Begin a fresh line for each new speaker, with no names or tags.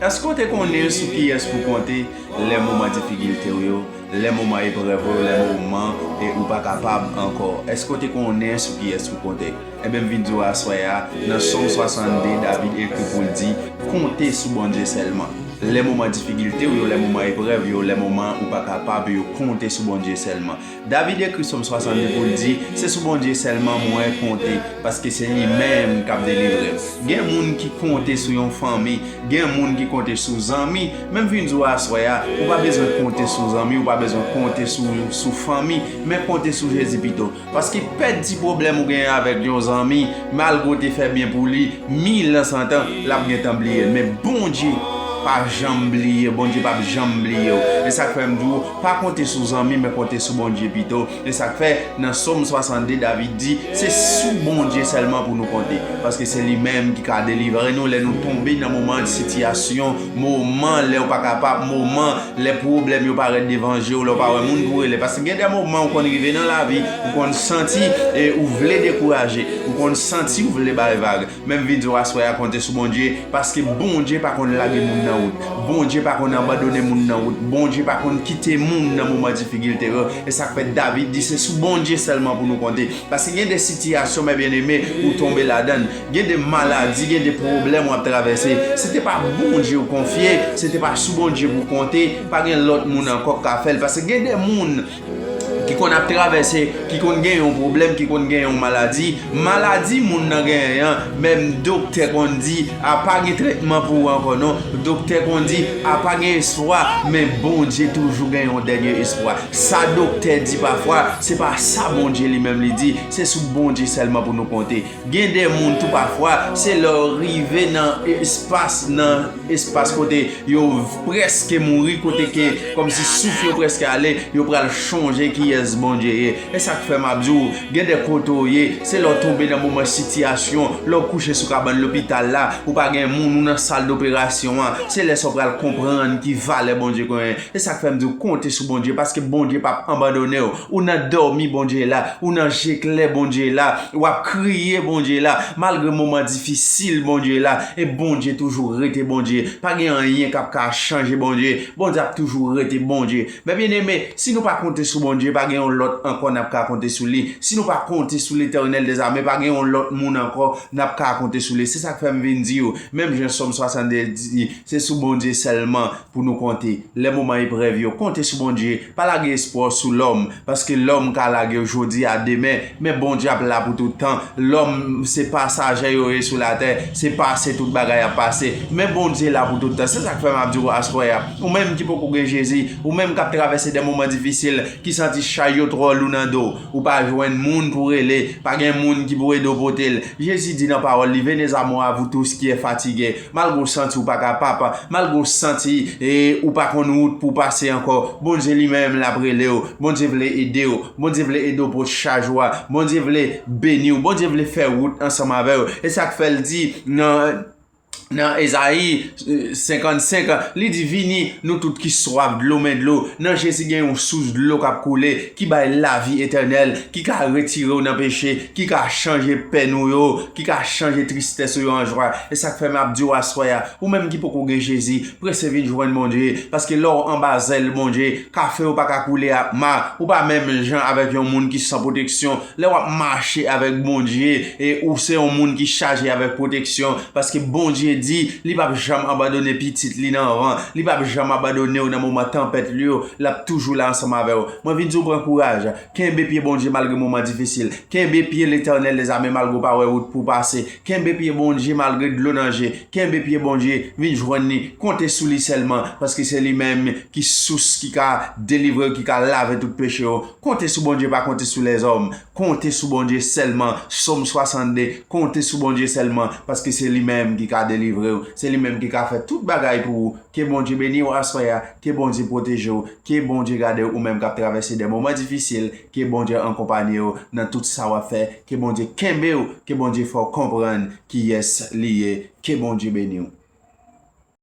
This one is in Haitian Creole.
Èske w te konnen sou kiyès pou w konte lè moman difikilte w yo, lè moman eprèv ou yo, lè moman ou pa kapab ankò? Èske w te konnen sou kiyès pou w konte? Enben, m vin di w aswè a, nan Sòm 62, David ekri pou l di, Konte sou Bondye sèlman. Lè moman difikilte w yo, lè moman eprèv yo, lè moman ou pa kapab yo, konte sou Bondye sèlman. David ekri Som 62 pou l di, Se sou Bondye sèlman mwen konte, paske se li menm k ap delivre m. Gen moun ki konte sou yon fanmi, gen moun ki konte sou zanmi, men m vin di w aswè a, ou pa bezwen konte sou zanmi, ou pa bezwen konte sou fanmi, men konte sou Jezi pito. Paske pèt ti pwoblèm ou genyen avèk yon zanmi, malgre w te fè byen pou li, mil an san tan, l ap gentan bliye l. Men Bondye pa janm bliye, Bondye p ap janm bliye w. E sa k fè m di w, Pa konte sou zanmi, men konte sou Bondye pito. Se sa k fè, nan Som 62, David di, Se sou Bondye sèlman pou nou konte, paske se li menm ki ka delivre nou lè nou tonbe nan moman, sitiyasyon, moman lè ou pa kapab, moman lè pwoblèm yo parèt devan je ou, lè ou pa wè moun pou rele. Paske gen de moman ou konn rive nan lavi, ou konn santi ou vle dekouraje, ou konn santi ou vle bay vag. Menm video aswè a konte sou Bondye paske Bondye pa konn lage moun nan wout Bondye pa konn anbandone moun nan wout Bondye pa konn kite moun nan moman difikilte yo esak fè David di se sou Bondye sèlman pou nou konte paske gen de sitiyasyon mè byeneme ou tonbe ladann gen de maladi gen de pwoblèm wap travèse si te pa Bondye ou konfye se te pa sou Bondye pou konte pa gen lòt moun ankò kap fèl paske gen de moun Ki konn ap travèse, ki konn gen yon pwoblèm, ki konn gen yon maladi. Maladi moun nan genyen an, menm doktè konn di, a pa gen tretman pou ou ankò non. Doktè konn di, a pa gen espwa, men Bondye toujou gen yon dènye espwa. Sa doktè di pafwa, se pa sa Bondye li menm li di. Se sou Bondye sèlman pou nou konte. Gen de moun tou pafwa, se lè yo rive nan espas nan. espas kote yo preske mouri kote ke kòmsi souf yo preske ale yo pral chonje kiyès Bondye ye esak fè map di ou gen de kote ou ye se lè ou tonbe nan moman sitiyasyon lè ou kouche sou kabann lopital la ou pa gen moun ou nan sal doperasyon an se lè sa ou pral konprann ki valè Bondye genyen. Se sak fèm diw konte sou Bondye paske Bondye pap anbandonew ou nan dòmi Bondye la ou nan je klè Bondye la wap kriye Bondye la malgre moman difisil Bondye la e Bondye toujou rete Bondye pa gen anyen kap ka chanje Bondye Bondye ap toujou rete Bondye mè byen eme si nou pa konte sou Bondye pa gen yon lòt ankò nap ka konte sou li si nou pa konte sou letènèl dè zame pa gen yon lòt moun ankò nap ka konte sou li se sak fèm vin diw menm jan sòm 62 di se sou Bondye sèlman Pou nou konte lè moman eprèv yo, konte sou Bondye, pa lage espwa w sou lòm, paske lòm ka lage w jodi a demen, men Bondye ap la pou tout tan, lòm se pasaje yo ye sou latè, se pase tout bagay ap pase, men Bondye la pou tout tan, se sak fè map di w aswè a, ou menm ki poko gen Jezi, ou menm kap travèse de moman difisil, ki santi chay yo twò lou nan do, ou pa jwenn moun pou rele, pa gen moun ki pou ede w pote l, Jezi di nan pawòl li, Venez à moi, vous tous qui est fatigue, Malgre w santi w pa kapap, malgre w santi ou pa konn wout pou w pase ankò, Bondye li menm l ap rele w, Bondye vle ede w, Bondye vle ede w pote chaj ou a, Bondye vle beni w, Bondye vle fè wout ansanm avè w. E sa k fè l di nan Ezayi 55, li di, Vini, nou tout ki swaf dlo, men dlo, nan Jezi gen yon sous dlo k ap koule. ki bay lavi etènèl, ki ka retire w nan peche, ki ka chanje pèn ou yo, ki ka chanje tristès ou yo an jwa. E sa k fè m ap di w aswè a, ou menm ki poko gen Jezi, prese vin jwenn Bondye, paske lè w anba zèl Bondye, kafe w pa ka koule ak ma, ou pa menm jan avèk yon moun ki san pwoteksyon, Lè wap mache avèk Bondye e ou se yon moun ki chaje avèk pwoteksyon paske Bondye di li pap janm abandone pitit li nan van, li pap janm abandonew nan moman tanpèt li yo, lap toujou la ansanm avèw. Mwen vin diw pran kouraj, kenbe pye Bondye malgre moman difisil, kenbe pye Letènèl dezame malgre ou pa wè wout pou pase, kenbe pye Bondye malgre dlo nan je, kenbe pye Bondye, vin jwenn li, konte sou li sèlman paske se li menm ki sous ki ka delivrew ki ka lave tout pechew. Konte sou Bondye pa konte sou lèzòm, konte sou Bondye sèlman, Som 62, konte sou Bondye sèlman, paske se li menm ki ka delivre ou, se li menm ki ka fè tout bagay pou ou, ke Bondye beni ou aswè a, ke Bondye pwoteje ou, ke Bondye gade ou menm kap travèse de moman difisil, ke Bondye ankonpanye ou nan tout sa wap fè, ke Bondye kenbe ou, ke Bondye fè ou konprann kiyès li ye, ke Bondye beni ou.